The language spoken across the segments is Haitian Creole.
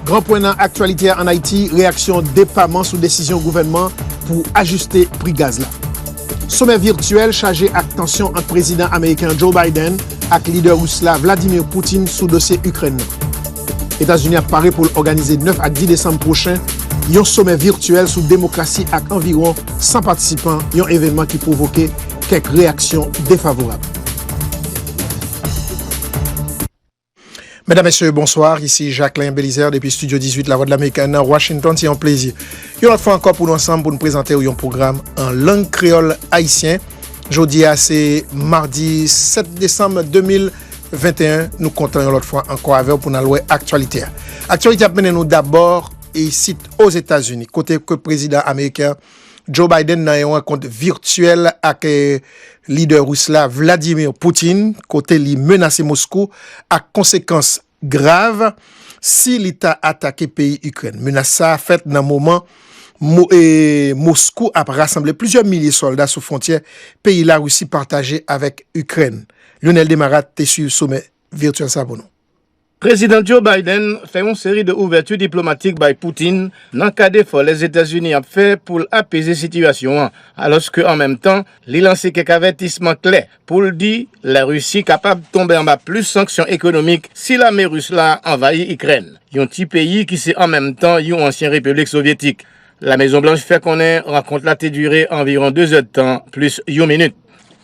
Gran pwen nan aktyalite a an Ayiti, reyaksyon depaman sou desizyon gouvènman pou ajiste pri gaz la. Somè virtyèl chaje ak tansyon ant prezidan ameriken an Joe Biden ak lidè ris la Vladimir Putin sou dosye Ikrèn nan. Etazini ap pare pou l òganize 9 ak 10 desanm pwochen yon somè virtyèl sou demokrasi ak anviwon 100 patisipan, yon evènman ki pwovoke kèk reyaksyon defavorab. Medam, Mesye, bonswa. Isi Jacquelin Belizaire depi Studio 18 Lavwadlamerik nan Washington. Se yon plezi yon lòt fwa ankò pou nou ansanm pou nou prezante ou yon pwogram an lang kreyòl ayisyen. Jodi a se madi 7 desanm 2000. 21 nou kontan yon lòt fwa ankò avèw pou nal wè aktyalite a. Aktyalite ap mennen nou dabò isit Ozetazini kote ke prezidan ameriken Joe Biden nan yon rankont virtyèl ak lidè rus la Vladimir Putin kote li menase Moskou ak konsekans grav si li ta atake peyi Ikrèn. Menas sa a fèt nan moman Moskou ap rasanble plizyè milye sòlda sou fwontyè peyi Larisi pataje avèk Ikrèn. Lyonel Desmarattes te swiv somè virtyèl sa pou nou. Prezidan Joe Biden fè yon seri de ouvèti diplomatik bay Putin nan kad efò Lèzetazini ap fè pou l apeze sitiyasyon an, alòske an menm tan li lanse kèk avètisman klè pou l di La Risi kapab tonbe anba plis sanksyon ekonomik si lame ris la anvayi Ikrèn, yon ti peyi ki se an menm tan yon ansyen repiblik sovyetik. La Mezon Blanch fè konnen rankont la te dire anviwon 2 zèdtan plis yon minit.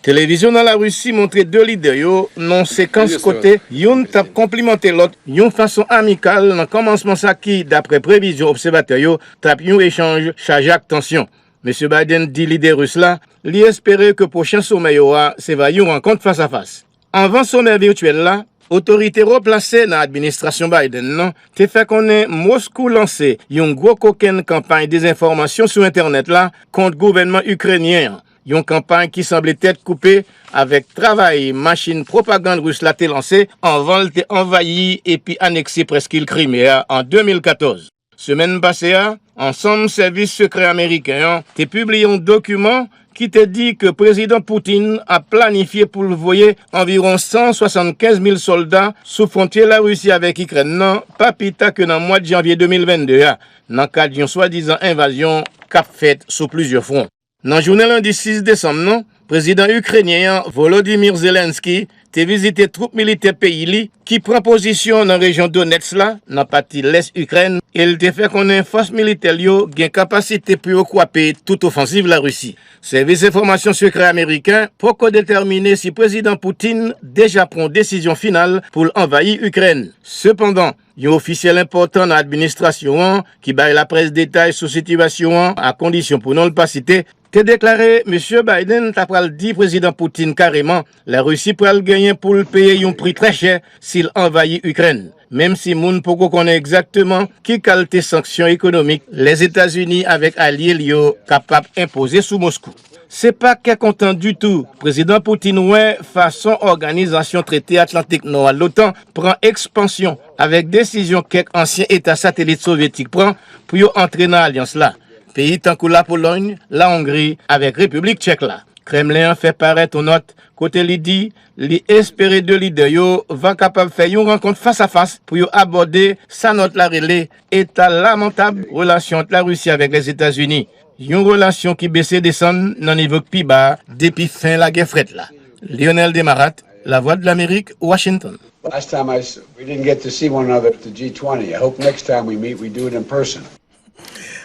Televizyon nan La Risi montre 2 lidè yo nan yon sekans kote youn t ap konplimante lòt yon fason amikal nan kòmansman sa ki, daprè previzyon obsèvatè yo, t ap yon echanj chaje ak tansyon. Mesye Biden di lidè ris la li espere ke pwochen somè yo a se va yon rankont fas a fas. Anvan somè virtyèl la, otorite wo plase nan administrasyon Biden nan te fè konnen Moskou lanse yon gwo kokenn kanpay dezenfòmasyon sou entènèt la kont gouvènman Ikrenyen an, yon kanpay ki sanble tèt koupe avèk travay machin pwopagand ris la te lanse anvan l te anvayi epi anekse prèskil Krime a an 2014. Semèn pase a, ansanm sèvis sekrè ameriken an te pibliye yon dokiman ki te di ke Prezidan Putin ap planifye pou l voye anviwon 175 mil sòlda sou fwontye Larisi avèk Ikrèn nan pa pi ta ke nan mwad janvye 2022 a, nan kad yon swadizan envazyon k ap fèt sou plizyè fwon. Nan jounen lendi 6 desanm nan, Prezidan Ikrenyen an, Volodymyr Zelenskyy, te vizite twoup militè peyi li ki pran pozisyon nan rejyon Donetsk la, nan pati lès Ikrèn, e l te fè konnen fòs militè l yo gen kapasite pou yo kwape tout ofansiv Larisi. Sèvis enfòmasyon sekrè ameriken poko detèmine si Prezidan Putin deja pran yon desizyon final pou l anvayi Ikrèn. Sepandan. Yon ofisyèl enpòtan nan administrasyon an, ki bay laprès detay sou sitiyasyon an a kondisyon pou non l pa site, te deklare Misye Biden ta pral di Prezidan Putin kareman Larisi pral genyen pou l peye yon pri trè chè si l anvayi Ikrèn, menm si moun poko konnen egzakteman ki kalte sanksyon ekonomik Lèzetazini avèk alye l yo kapab enpoze sou Moskou. Se pa kè kontan ditou Prezidan Putin wè fason Òganizasyon Trete Atlantik Nò a, l'OTAN, pran ekspansyon avèk desizyon kèk ansyen eta satelit sovyetik pran pou yo antre nan alyans la, peyi tankou Lapolòy, Lahongri avèk Repiblik Tchèk la. Kremlen an fè parèt yon nòt kote li di li espere 2 lidè yo va kapab fè yon rankont fas-a-fas pou yo abòde sa nòt la rele eta lamantab relasyon ant Larisi avèk Lèzetazini. Yon relasyon ki bese desann nan nivo k pi ba depi fen lagè frèt la. Lyonel Desmarattes, Lavwadlamerik, Washington. Last time I saw we didn't get to see one another at the G20. I hope next time we meet we do it in person.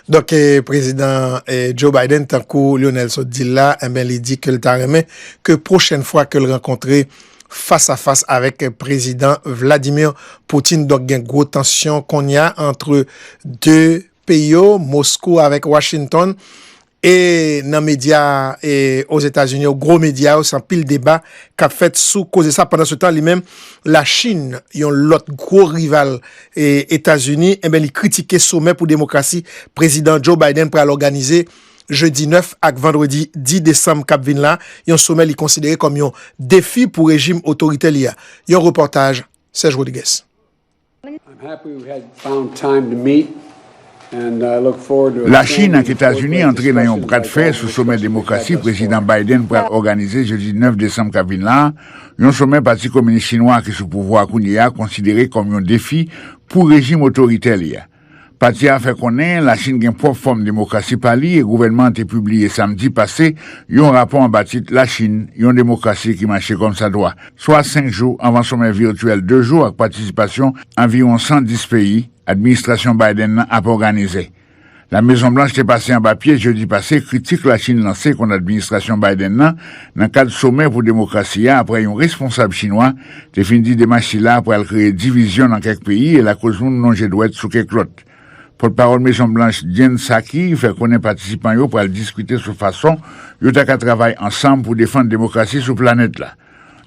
Donk Prezidan Joe Biden tankou Lyonel sot di l la enben li di ke l ta renmen ke pwochèn fwa ke l rankontre fas a fas avèk Prezidan Vladimir Putin. Donk gen gwo tansyon kounye a antre 2 peyi yo, Moskou avèk Washington, e nan medya e Ozetazini yo, gwo medya yo, se anpil deba k ap fèt sou koze sa. Pandansetan, li menm, Lachin, yon lòt gwo rival e Etazini, enben li kritike somè pou demokrasi Prezidan Joe Biden pral òganize jedi 9 ak vandredi 10 desanm k ap vin la, yon somè li konsidere kòm yon defi pou rejim otoritè li a. Yon repòtaj Serge Rodrigues. Lachin ak Etazini antre nan yon bradfè sou somè demokrasi Prezidan Biden pral òganize jedi 9 desanm k ap vin la a, yon somè Pati Kominis Chinwa a ki sou pouvwa a kounye a konsidere kòm yon defi pou rejim otoritè li a. Pati a fè konnen Lachin gen pwòp fòm demokrasi pa li e gouvènman an te pibliye samdi pase yon rapò anba tit Lachin, yon demokrasi ki mache kòmsadwa, swa senk jou anvan somè vityèl de jou ak patisipasyon anviwon 110 peyi administrasyon Biden nan ap òganize. La Mezon Blanch te pase anba pye jedi pase kritik Lachin lanse kont administrasyon Biden nan nan kad somè pou demokrasi a apre yon responsab chinwa te fin di demach sila pral kreye divizyon nan kèk peyi e lakoz moun lonje dwèt sou kèk lòt. Pòtpawòl Mezon Blanch Jen Psaki fè konnen patisipan yo pral diskite sou fason yo ta ka travay ansanm pou defann demokrasi sou planèt la.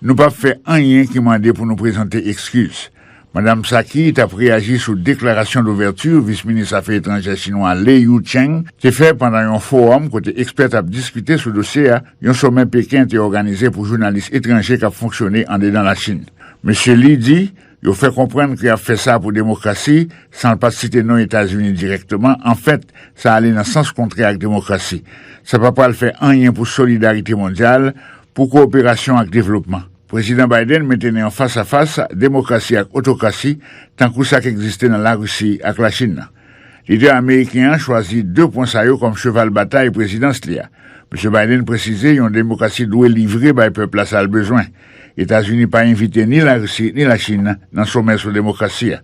Nou pap fè anyen ki mande pou nou prezante ekskiz. Madam Psaki t ap reyaji sou deklarasyon douvèti Vis Minis Afè Etranjè Chinwa Lei Yucheng te fè pandan yon fowòm kote ekspè t ap diskite sou dosye a, Yon somè Peken te òganize pou jounalis etranje k ap fonksyone andedan Lachin. Mesye Li di yo fè konprann ke y ap fè sa pou demokrasi, san l pa t site non Etazini dirèkteman, anfèt, sa ale nan sans kontrè ak demokrasi. Sa pa pral fè anyen pou solidarite mondyal, pou kowoperasyon ak devlopman. Prezidan Biden mete nan yon fas-a-fas demokrasi ak otokrasi, tankou sa k egziste nan Larisi ak Lachin nan. Lidè ameriken an chwazi 2 pwen sa yo kòm cheval batay prezidans li a. Misye Biden presize yon demokrasi dwe livre bay pèp la sa l bezwen. Etazini pa envite ni Larisi ni Lachin nan somè sou demokrasi a.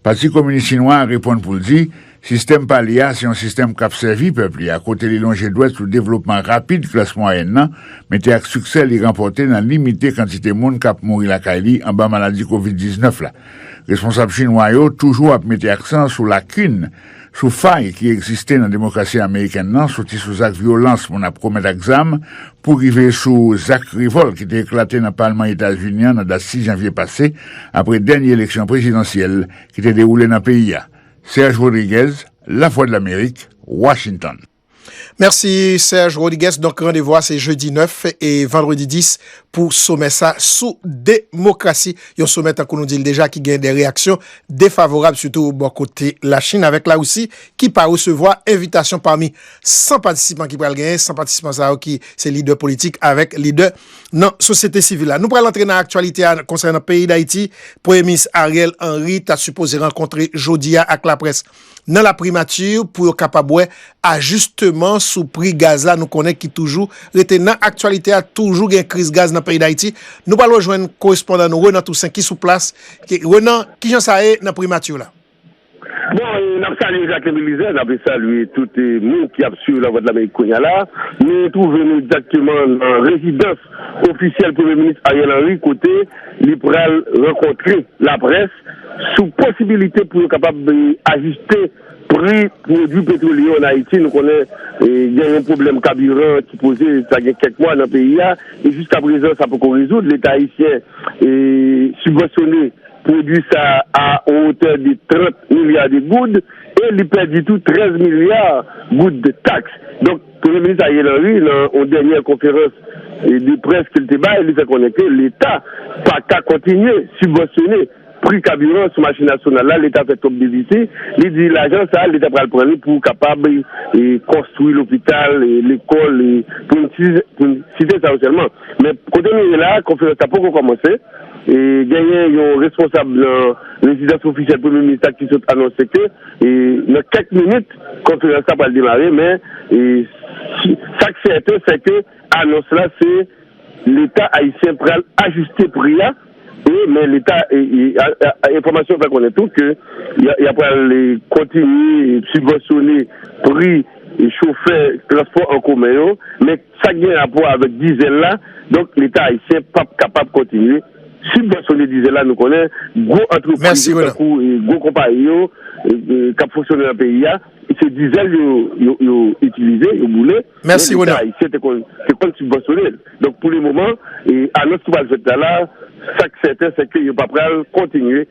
Pati Kominis Chinwa a reponn pou l di sistèm pa li a se yon sistèm k ap sèvi pèp li a kote li lonje dwèt sou devlopman rapid klas mwayèn nan mete ak siksè li ranpòte nan limite kantite moun k ap mouri lakay li anba maladi kovid 19 la. Responsab chinwa yo toujou ap mete aksan sou lakin, sou fay ki egziste nan demokrasi amerikèn nan, soti sou zak vyolans moun ap komèt ak zam, pou rive sou zak revòlt ki te eklate nan palman Etazini an nan dat 6 janvye pase, apre dènye eleksyon prezidansyèl ki te dewoule nan peyi a. Serge Rodriguez, Lavwadlamerik, Washington. Mèsi Serge Rodrigues, donk randevou a se jedi 9 e vandredi 10 pou somè sa sou demokrasi, yon somè tankou nou di l deja ki gen de reyaksyon defavorab sitou bò kote Lachin avèk Larisi ki pa resevwa envitasyon pami 100 patisipan ki pral genyen, 100 patisipan sa yo ki se lidè politik avèk lidè nan sosyete sivil la. Nou pral antre nan aktyalite a konsènan peyi Dayiti, Premye Minis Ariel Henry ta sipoze rankontre jodi a ak laprès. nan la primati pou yo kapab wè ajisteman sou pri gaz la nou konnen ki toujou rete nan aktyalite a toujou gen kriz gaz nan peyi dayiti nou pral rejwenn korespondan nou Renan Toussaint ki sou plas Renan kijan sa ye nan primati la. Bon n ap salye Jacquin Belizaire, n ap salye tout moun ki ap swiv Lavwadlamerik kounya la nou twouve nou egzakteman nan rezidans ofisyèl premye minis Ariel Henry kote li pral rankontre laprès. sou posibilite pou yo kapab ajiste pri pwodui petwolye yo an Ayiti. Nou konnen gen yon pwoblèm kabiran ki poze sa gen kèk mwa nan peyi a, e jiska prezan sa poko rezoud. Leta ayisyen sibvansyone pwodui sa a o wotè de 30 milya de goud e li pèdi tou 13 milya goud taks. Premye minis Ariel Henry nan yon dènyè konferans de près ke li te bay, li fè konnen ke leta pa ka kontinye sibvansyone pri kabiran sou mache nasyonal la, leta fè twòp defisi, li di lajan sa leta pral pran li pou kapab konstwi lopital, lekòl pou n site sa yo sèlman. Men kote nou ye la a konferans la poko kòmanse, genyen yon responsab nan rezidans ofisyèl premye minis la ki sot anonse ke. Nan kèk minit, konferans la pral demare men sa k sèten se ke anons la se Leta ayisyen pral ajiste pri a e men Leta enfòmasyon fè konnen tou ke y a pral kontinye sibvansyone pri chofè transpò an komen yo men Sa k gen rapò avèk dizèl la, donk leta ayisyen pap kapab kontinye sibvansyone dizèl la, nou konnen gwo antrepriz yo tankou gwo konpayi yo k ap fonksyone nan peyi a se dizèl yo itilize, yo boule men leta ayisyen te konn sibvansyone l donk pou le moman anons ki pral fèt la la sa k sèten se ke yo pa pral kontinye.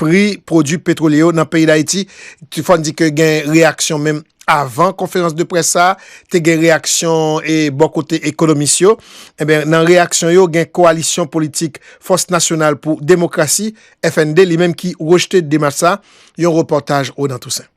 pri pwodui petwolye yo nan peyi Dayiti. Fòn di ke gen reyaksyon menm avan konferans de près sa a, te gen reyaksyon e bò kote ekonomis yo. Enben, nan reyaksyon yo gen kowalisyon politik Fòs Nasyonal pou Demokrasi, FND, li menm ki rejte demach sa a. Yon repòtaj Ronan Toussaint.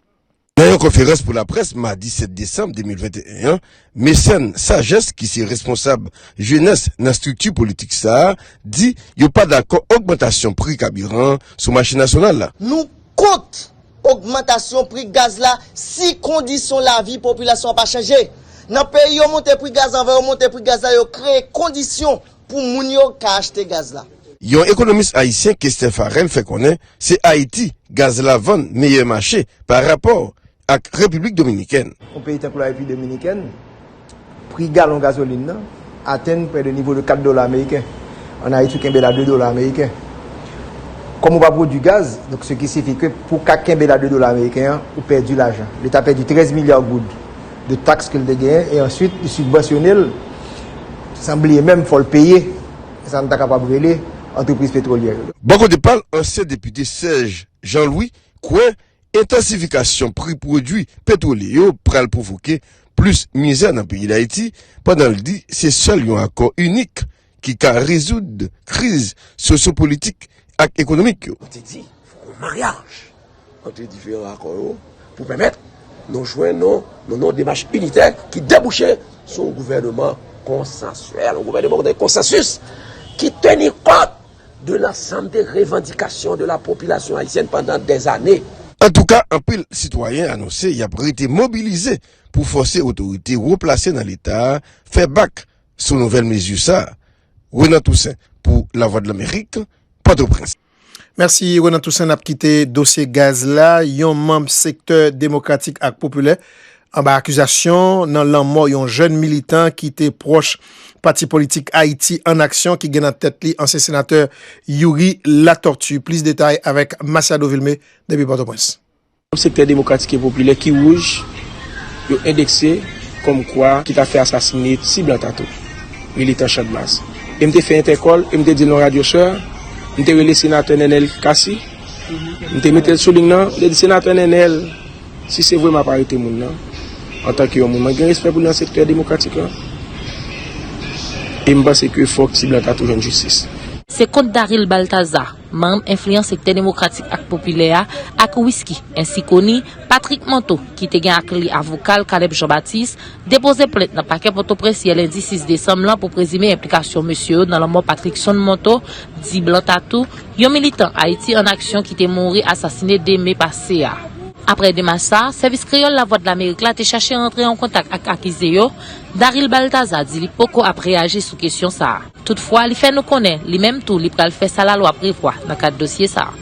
Nan yon konferans pou laprès madi 7 desanm 2021 an, Mecène Sages ki se responsab jenès nan estrikti politik sa a di yo pa dakò ogmantasyon pri kabiran an sou mache nasyonal la. Nou kont ogmantasyon pri gaz la si kondisyon lavi popilasyon an pa chanje. Nan peyi yo monte pri gaz anvan yo monte pri gaz la yo kreye kondisyon Pou moun yo ka achte gaz la. Yon ekonomis ayisyen Kesten Farel fè konnen se Ayiti gaz la vann meyè mache pa rapò ak Repiblik Dominikèn. Yon peyi tankou la Repiblik Dominikèn, pri galon gazolin nan atenn prè de nivo de 4 dola ameriken. An Ayiti ou kenbe la 2 dola ameriken. Kòm ou pa pwodui gaz, donk se ki sifi ke pou w ka kenbe la 2 dola ameriken an, ou pèdi lajan. Leta pèdi 13 milya goud. de tax ke l te genyen e answit li sibvansyone l san bliye menm fò l peye sa n ta kapab rele antrepriz petwolyè yo. Bò kote pa l, ansyen depite Serge Jean Louis kwè entansifikasyon pri pwodwi petwolye yo pral pwovoke plis mizè nan peyi Dayiti pandan l di se sèl yon akò inik ki ka rezoud kriz sosyopolitik ak ekonomik yo. Li te di, Fòk yon maryaj ant diferan akò yo pou pèmèt nou jwenn yon demach initè ki debouche sou yon gouvèneman konsansyèl, yon gouvèneman kote gen konsansis ki teni kont de lansanm de revandikasyon de la popilasyon ayisyèn pandan dèzane. Antouka, anpil sitwayen anonse y ap rete mobilize pou fòse otorite wo plase nan Leta fè bak sou nouvèl mezi sa a. Renan Toussaint pou Lavwadlamerik, Pòtoprens. Mèsi Renan Toussaint, n ap kite dosye gaz la, yon manb sektè demokratik ak popilè anba akizasyon nan lanmò yon jèn militan ki te pwòch pati politik Ayiti an Aksyon ki gen nan tèt li ansyen senatè Youri Latortue. Plis detay avèk Masiado Vilmé depi Pòtoprens. Manm Sektè Demokratik e Popilè ki wouj yo endekse kòm kwa ki ta fè asasine ti blan ta tou, militan Chandmas. E m te fè entèkòl e m te di l nan radyo sè, m te rele Senatè Nenel Cassy, m te mete l sou ling nan, m te di, Senatè Nenel, si se vre m ap arete moun nan, antanke yon moun mwen gen respè pou li nan Sektè Demokratik lan, e m panse ke fòk ti blan ta tou jwenn jistis. Se kont Daryl Balthazar. manm enfliyan sektè demokratik ak popilè a, ak Wisky ensi koni Patrick Manteau ki te gen ak li avoka l Caleb Jean Baptiste, depoze plent nan pakè Pòtoprens yè lendi 6 desanm lan pou prezime enplikasyon mesye yo nan lanmò Patrickson Manteau, di Blanc Tattoo, yon militan Ayiti an Aksyon ki te mouri asasine 2 me pase a. Aprè demach sa, Sèvis Kreyòl Lavwadlamerik la te chache rantre an kontak ak akize yo, Darryl Baltazar di li poko ap reyaji sou kesyon sa. Toutfwa, li fè nou konnen, li menm tou, li pral fè sa lalwa prevwa nan kad dosye sa a.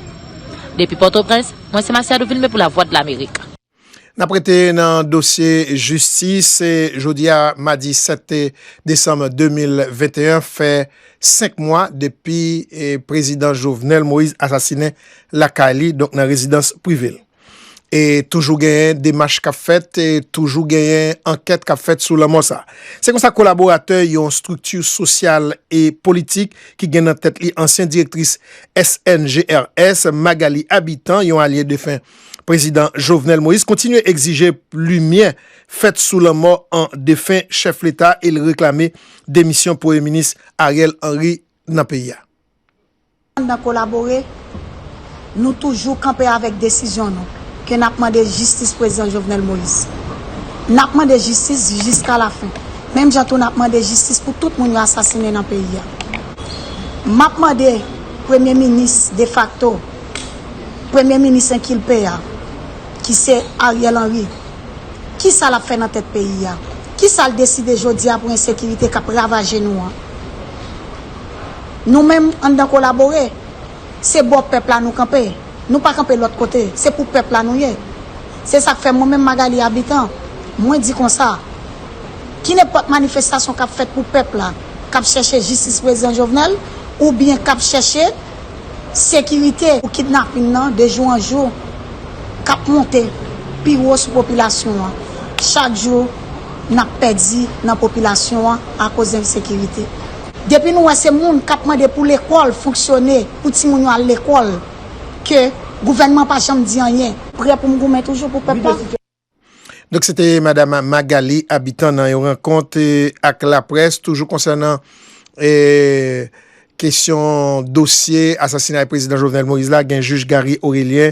Depi Pòtoprens, mwen se Masiado Vilme pou Lavwadlamerik. N ap rete nan dosye jistis. Jodi a, madi 7 desanm 2021, fè 5 mwa depi Prezidan Jovenel Moïse asasinen lakay li, donk nan rezidans prive l. E toujou genyen demach k ap fèt, e toujou genyen ankèt k ap fèt sou lanmò sa. Se konsa kolaboratè yon estrikti sosyal e politik ki gen nan tèt li ansyen direktris SNGRS, Magalie Habitant, yon alye defen prezidan Jovenel Moïse, kontinye egzije limyè fèt sou lanmò an defen chèf leta e l reklame demisyon premye minis Ariel Henry nan peyi a. Pandan kolabore, nou toujou kanpe avèk desizyon nou ke nap mande jistis Prezidan Jovenel Moïse. Nap mande jistis jiska la fen. Menm jan tou nap mande jistis pou tout moun yo asasinen nan peyi a. Map mande Premye Minis defakto, Premye Minis enkilpe a, ki se Ariel Henry, kisa lap fè nan tèt peyi a? Kisa l deside jodi a pou ensekirite kap ravaje nou an? Nou menm, anndan kolabore. Se bò pèp la nou kanpe. Nou pa kanpe lòt kote. Se pou pèp la nou ye. Se sa k fè mwen menm Magalie Habitant, mwen di konsa, kinepòt manifestasyon k ap fèt pou pèp la k ap chèche jistis prezidan Jovenel oubyen k ap chèche sekirite pou kidnapin nan de jou an jou k ap monte pi wo sou popilasyon an, chak jou n ap pèdi nan popilasyon an akoz ensekirite. Depi nou wè se moun kap mande pou lekòl fonksyone, pou timoun yo al lekòl ke gouvènman pa janm di anyen. Prè pou m goumen toujou pou pèp la. Donk se te madam Magalie Habitant nan yon rankont ak laprès toujou konsènan kesyon dosye asasinay prezidan Jovenel Moïse la gen jij Garry Orélien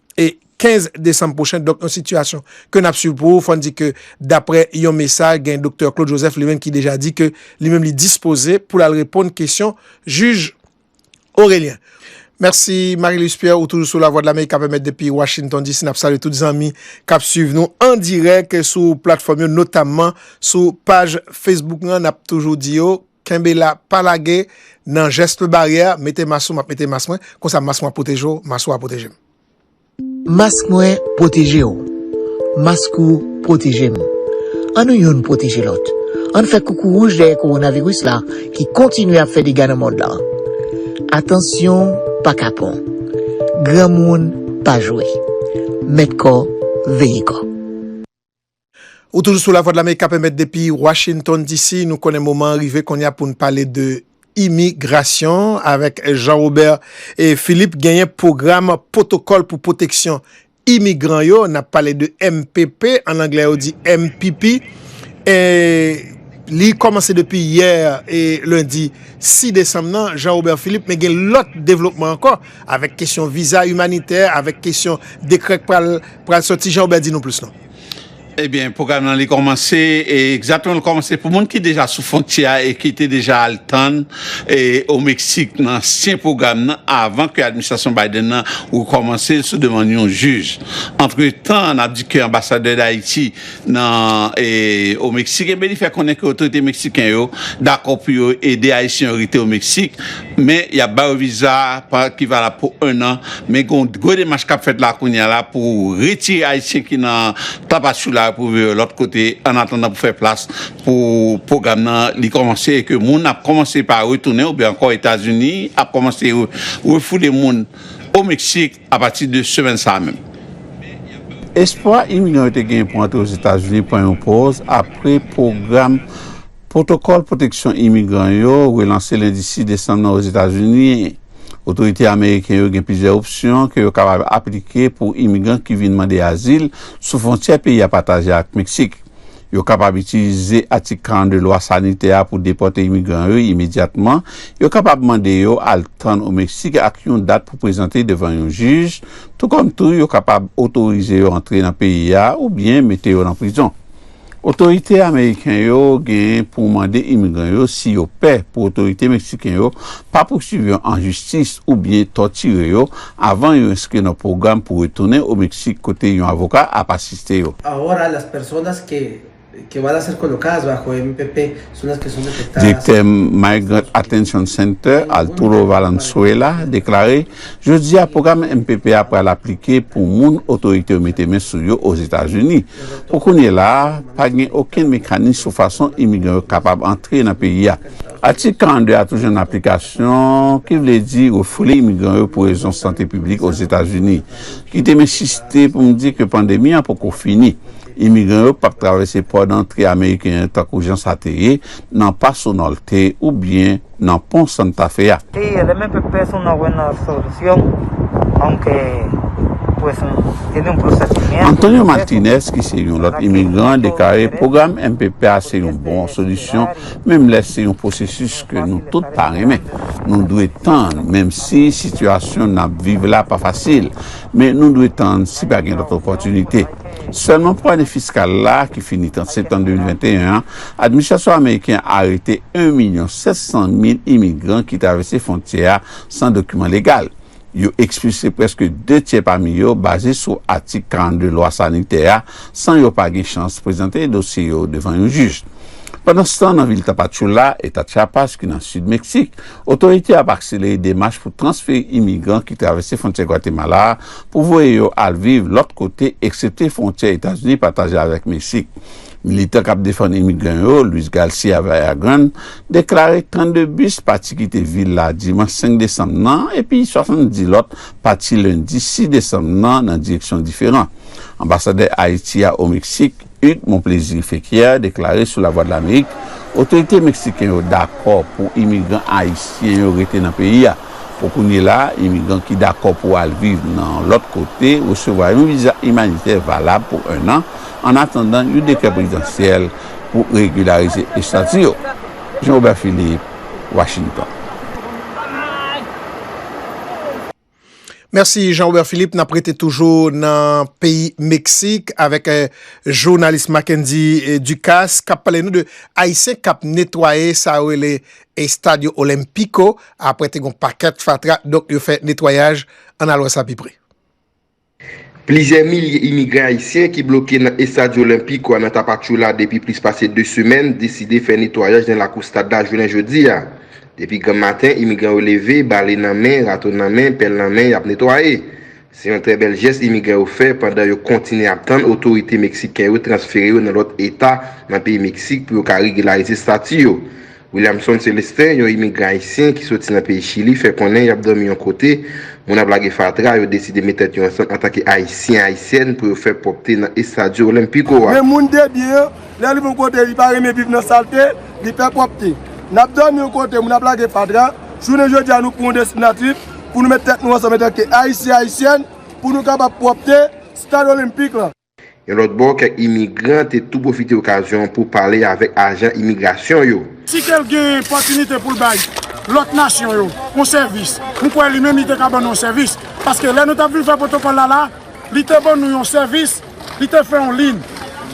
e 15 desanm pwochen, donk yon sitiyasyon ke n ap swiv pou ou. Fò n di ke daprè yon mesaj gen doktè Claude Joseph li menm ki deja di ke li menm li dispoze pou l al reponn kesyon jij Orelien. Mèsi Marie Louise Pierre ou toujou sou Lavwadlamerik k ap emèt depi Washington DC. N ap salye tout zanmi k ap swiv nou an dirèk sou platfòm yo notamman sou paj Facebook lan. N ap toujou di yo. Kenbe la pa lage nan geste baryè mete mas ou map mete mas mwen konsa mas mwen ap pwoteje w mas ou a pwoteje m. Mas mwen pwoteje w mask ou pwoteje m an nou youn pwoteje lòt ann fè koukou wouj dèyè kowonaviris la ki kontinye ap fè dega nan mond lan atansyon pa kapon granmoun pa jwe mèt kò veye kò. Ou toujou sou Lavwadlamerik kap emet depi Washington DC. Nou konnen moman an rive kounye a pou n pale de imigrasyon avèk Jean Robert Philippe. Genyen pwogram pwotokòl pou pwoteksyon imigran yo. N ap pale de mpp, an anglè yo di MPP. Li kòmanse depi yè lendi 6 desanm nan, Jean Robert Philippe. Men gen lòt devlopman ankò. Avèk kesyon viza imanitè, avèk kesyon dekrè k pral pral sòti Jean Robert di nou plis non. Ebyen pwogram nan li kòmanse e egzatman li kòmanse pou moun ki deja sou fwontyè a e ki te deja al tann e o Meksik nan ansyen pwogram nan avan ke administrasyon Biden nan rekòmanse l sou demann yon jij. Antretan nap di ke anbasadè Dayiti nan o Meksik enben li fè konnen ke otorite meksiken yo dakò pou yo ede ayisyen yo rete o Meksik men yap ba yo viza ki valab pou 1 an men gon gwo demach kap fèt la kounya la pou retire ayisyen ki nan Tapachula pou yo lòt kote an atandan pou fè plas pou pwogram nan li kòmanse e ke moun ap kòmanse pa retounen oubyen ankò Etazini ap kòmanse refoule moun o Meksik. Apati de semèn sa a menm. Espwa Inivizyon yo te genyen pou antre Ozetazini pran yon pòz apre pwogram Pwotokòl Pwoteksyon Imigran yo relanse lendi 6 desanm nan Ozetazini. Otorite ameriken yo gen plizyè opsyon ke yo kapab aplike pou imigran ki vin mande azil sou fwontyè peyi a pataje ak Meksik. Yo kapab itilize Atik 42 Lwa Sanitè a pou depòte imigran yo imedyatman. Yo kapab mande yo al tann o Meksik ak yon dat pou prezante devan yon jij, tou kòm tou yo kapab otorize yo antre nan peyi a oubyen mete yo nan prizon. Otorite ameriken yo gen pou mande imigran yo si yo pè pou otorite meksiken yo pa pouswiv yo an jistis oubyen tòtire yo avan yo enskri nan pwogram pou retounen o Meksik kote yon avoka ap asiste yo. Direktè Migrant Attention Center, Arturo Valenzuela, deklare, Jodi a, pwogram mpp a pral aplike pou moun otorite yo mete men sou yo Ozetazini. Pou kounye la a, pa gen okenn mekanis sou fason imigran yo kapab antre nan peyi a. Atik 42 a tou jwenn aplikasyon, ki vle di refile imigran yo pou rezon sante piblik Ozetazini. Kite m ensiste pou m di ke pandemi an poko fini. Imigran yo pap travèse pò dantre ameriken an tankou jan sa te ye nan Paso Norte oubyen nan pon Santa Fe a. Te ye, lè men pèp pè sou nan wè nan solisyon, anke pwè sou e nou pwè sati mè. Antonio Martinez ki se yon lòt imigran deklare pwogram mpp a se yon bon solisyon Menm lè se yon pwosesis ke nou tout pa renmen, nou dwe tann, menm si sitiyasyon n ap viv la pa fasil, men nou dwe tann si pa gen lòt opòtinite. Sèlman pou ane fiskal la, ki fini 30 septanm 2021 an, administrasyon ameriken an arete 1 milyon 700 mil imigran ki travèse fwontyè a san dokiman legal. Yo ekspilse prèske de tyè pami yo baze sou atik 42 lwa sanitè a san yo pa gen chans prezante dosye yo devan yon jij. Pandanstan nan vil Tapachula, eta Chiapas ki nan sid Meksik, otorite yo ap akselere demach pou transfere imigran ki travèse fwontyè Gwatemala a pou voye yo al viv lòt kote eksepte fwontyè Etazini pataje avèk Meksik. Militan k ap defann imigran yo, Luis Garcia Villagrán, deklare 32 bis pati kite vil la dimanch 5 desanm nan epi 70 lòt pati lendi 6 desanm nan nan direksyon diferan. Anbasadè Ayiti a o Meksik, Hugues Monplaisir Féquière deklare sou Lavwadlamerik otorite meksiken yo dakò pou imigran ayisyen yo rete nan peyi a. Pou kounye la, imigran ki dakò pou al viv nan yon lòt kote resevwa yon viza imanitè valab pou ennan ann atandan yon dekrè prezidansyèl pou regilarize estati yo. Jean Robert Philippe, Washington. Mèsi Jean Robert Philippe, n ap rete toujou nan peyi Meksik avèk jounalis Mackendy Ducasse k ap pale nou de Ayisyen k ap netwaye sa yo rele Estadio Olimpico apre te gen yon pakèt fatra donk yo fè netwayaj, ann al wè sa pi pre. Plizyè milye imigran ayisyen ki bloke nan Estadio Olimpico a nan Tapachula depi plis pase 2 semèn deside fè netwayaj nan lakou stad la jounen jodi a. Depi granm maten imigran yo leve, bale nan men, rato nan men, pèl nan men yap netwaye. Se yon trè bèl jès imigran yo fè pandan yo kontinye ap tann otorite meksiken yo transfere yo nan lòt eta nan peyi Meksik pou yo ka regilarize stati yo. Williamson Celestin, yon imigran ayisyen ki soti nan peyi Chili, fè konnen y ap dòmi yon kote, moun ap lage fatra, yo deside met tèt yo ansanm antanke Ayisyen-Ayisyèn pou yo fè pwòpte nan Estadio Olympico a. Men moun debyen an, Lè li pou yon kote, li pa renmen viv nan salte, li pè pwòpte. N ap dòmi yon kote, moun ap lage fatra. Jounen jodi a, nou pran yon destinatif pou nou met tèt nou ansanm antanke Ayisyen, Ayisyèn, pou nou kapab pwòpte Stad Olenpik la. Yon lòt bò, kèk imigran te tou pwofite okazyon an pou pale avèk ajan imigrasyon yo. Si ke l gen pòtinite pou l bay lòt nasyon yo yon sèvis, m kwè li menm li te ka ban nou yon sèvis. Paske lè nou t ap vin fè pwotokòl la la, li te ban nou yon sèvis. Li te fè yon lin,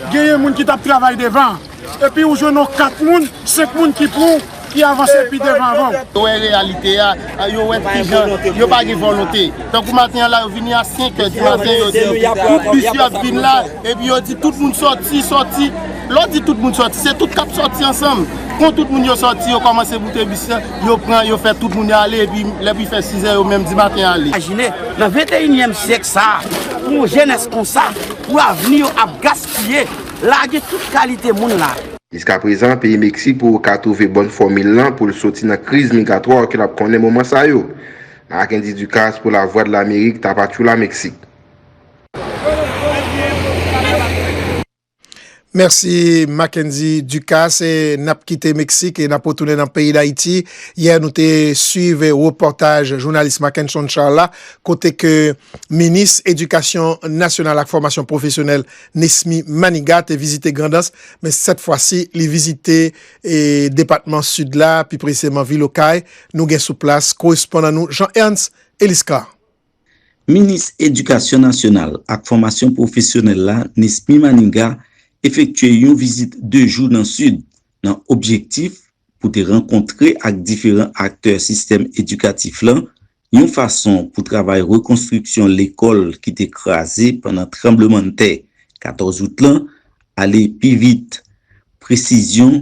genyen moun ki tap travay devan, epi ou jwenn yon 4 moun, 5 moun ki pran w, ki avanse pi devan avan w. Yo wè reyalite a, yo wè kijan yo pa gen volonte. Tankou maten an la yo vini a 5 è di maten yo di tout bis yo ap vin la, epi yo di tout moun sòti, sòti. Lè w di tout moun sòti, se tout k ap sòti ansanm. Kon tout moun yo sòti, yo kòmanse boute bis la. Yo pran, yo fè tout moun yo ale epi lè pou fè 6 è yo menm di maten ale. Imajine, nan venteyinyèm syèk sa a, pou yon jenès konsa, pou avni yo ap gaspiye, lage tout kalite moun la. Jiskaprezan, peyi Meksik pou ka twouve bòn fòmil lan pou l soti nan kriz migratwa ke l ap konnen moman sa yo. Nan ak Andy Ducasse pou Lavwadlamerik Tapachula Meksik. Mèsi Mackendy Ducasse. N ap kite Meksik e n ap retounen nan peyi Dayiti. Yè nou te swiv repòtaj jounalis Mackenson Charles la kote ke minis edikasyon nasyonal ak fòmasyon pwofesyonèl Nesmy Manigat te vizite Grandans men sèt fwa si li vizite depatman Sid la pi presizeman vil Okay. Nou gen sou plas korespondan nou Jean Ernst Eliscar. Minis Edikasyon Nasyonal ak Fòmasyon Pwofesyonèl la, Nesmy Maniga, efektye yon vizit 2 jou nan Sid, nan objektif pou te rankontre ak diferan aktè sistèm edikatif lan, yon fason pou travay rekonstriksyon lekòl ki te kraze pandan tranblemann tè 14 out lan ale pi vit. Presizyon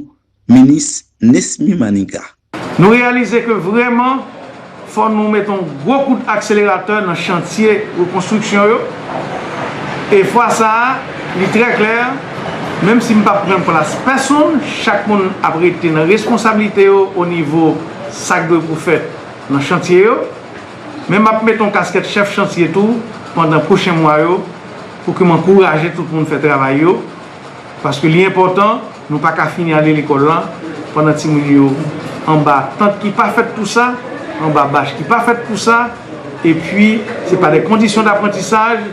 Minis Nesmy Maniga. Nou reyalize ke vrèman fò nou met yon gwo kout akseleratè nan chantye rekonstriksyon yo e fwa sa a li trè klè menm si m pap pran plas pèsonn chak moun ap rete nan reskonsablite yo o nivo sa k dwe pou fèt nan chantye yo men map met yon kaskèt chèf chantye tou pandan pwochen mwa yo pou ke m ankouraje tout moun fè travay yo paske li enpòtan. Nou pa ka fini ale lekòl la pandan timoun yo anba tant ki pa fèt pou sa, anba bach ki pa fèt pou sa, epi se pa de kondisyon daprantisaj,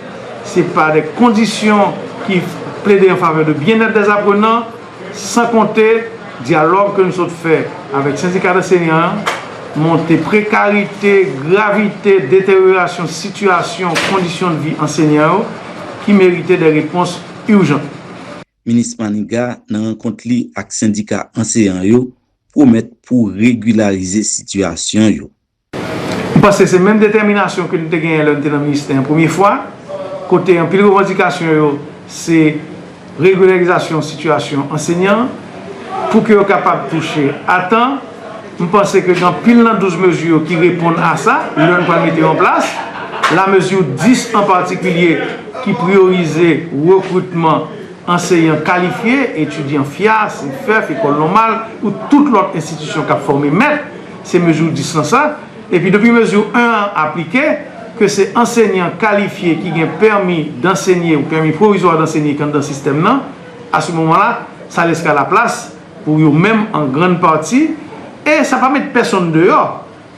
se pa de kondisyon ki plede an favè de byennèt dè zaprenan, san konte dyalòg ke nou sot fè avèk sendika danseyan an, monte prekarite, gravite, deteryorasyon sitiyasyon kondisyon de vi ansenyan yo ki merite de repons urjant. Minis Maniga nan rankont li ak sendika anseyan yo pwomèt pou regilarize sitiyasyon yo. M panse se menm detèminasyon ke n te genyen lè n te nan ministè an premye fwa, kote anpil revandikasyon yo se regilèrizasyon sitiyasyon ansenyan pou ke yo kapab touche a tan. M panse ke gen anpil nan 12 mezi yo ki reponn a sa, lè n pral mete yo an plas. La mezi 10 an patikilye ki priyorize rekritman anseyan kalifye, etidyan fya, CFEF, Ekòl Nòmal ou tout lòt enstitisyon k ap fòme mèt, se mezi 10 lan sa. Epi depi mezi 1 an aplike, ke se ansenyan kalifye ki gen pèmi dansenye ou pèmi pwovizwa dansenye ki anndan sistèm nan, a se moman la, sa lèska la plas. Pou yo menm an grann pati, e sa pa met pèsonn deyò,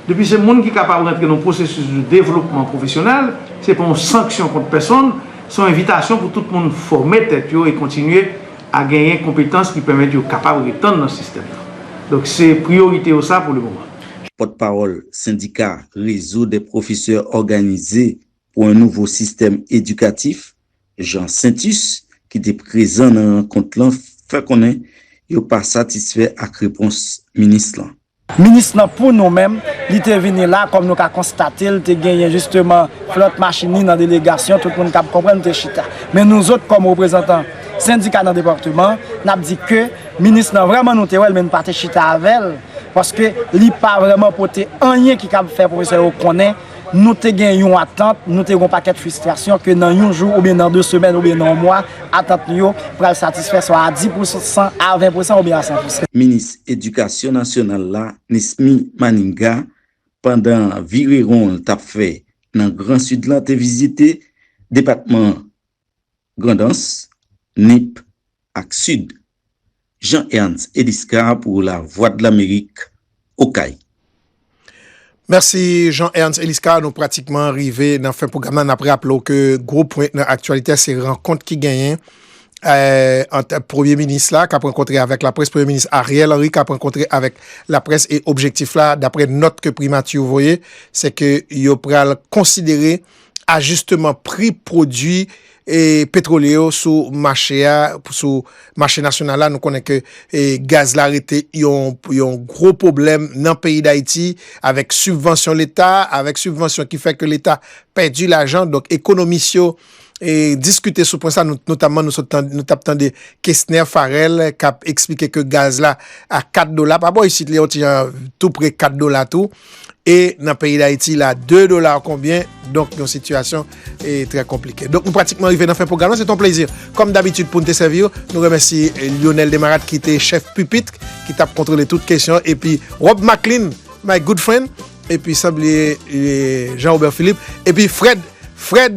depi se moun ki kapab rantre nan yon pwosesis de devlopman pwofesyonèl, se pa yon sanksyon kont pèsonn, se yon envitasyon pou tout moun fòme tèt yo e kontinye a genyen konpetans ki pèmèt yo kapab retann nan sistèm nan. Donk se priyorite yo sa pou le moman. Pòtpawòl sendika Rezo dè pwofesè òganize pou yon nouvo sistèm edikatif, Jean Saintus, ki te prezan nan rankont lan fè konnen yo pa satisfè ak repons minis lan. Minis lan pou nou menm, li te vini la, kòm nou ka konstate l, te genyen jisteman Florent Machini nan delegasyon, tout moun kab konprann te chita. Men nou zot kòm reprezantan sendika nan departeman, n ap di ke minis lan vrèman nou te wè l men nou pa te chita avè l, paske li pa vrèman pote anyen ki kab fè pwofesè yo konnen. nou te gen yon atant, nou te gen yon pakèt fristrasyon ke nan yon jou oubyen nan 2 semèn oubyen nan yon mwa, atant nou yo pral satisfè swa a 10 pou san, a 20 pou san oubyen a 100 pou san. Minis Edikasyon Nasyonal la, Nesmy Maniga, pandan vire won l t ap fè nan Gran Sid la te vizite depatman Grandans, Nip, ak Sid. Jean Ernst Eliscar pou Lavwadlamerik, Okay. Mèsi Jean Ernst Eliscar, nou pratikman rive nan fen pwogram nan, nap raple w ke gwo pwen nan aktyalitè se rankont ki genyen ant premye minis la kap rankontre avèk laprès, premye minis Ariel Henry kap rankontre avèk laprès e objektif la daprè nòt ke primati voye se ke yo pral konsidere ajisteman pri pwodui petwolye yo sou mache a, sou mache nasyonal la, nou konnen ke gaz la rete yon gwo pwoblèm nan peyi Dayiti, avèk sibvansyon leta, avèk sibvansyon ki fè ke leta pèdi lajan, donk ekonomis yo diskite sou pwen sa, notamman nou tap tande Kesner Farel kap eksplike ke gaz la a 4 dola, pa bò isit li yon ti jan tou pre 4 dola tou, E nan peyi dayiti la 2 dola konbyen donk yon sitiyasyon e trè konplike. Donk nou pratikman rive nan fen pwogram lan se te yon plezi kòm dabitid pou nou te sèvi ou. Nou remèsi Lyonel Desmarattes ki te chèf pipit ki tap kontwole tout kesyon epi Rob Macklin my good friend epi san bliye Jean Robert Philippe epi Fred Fred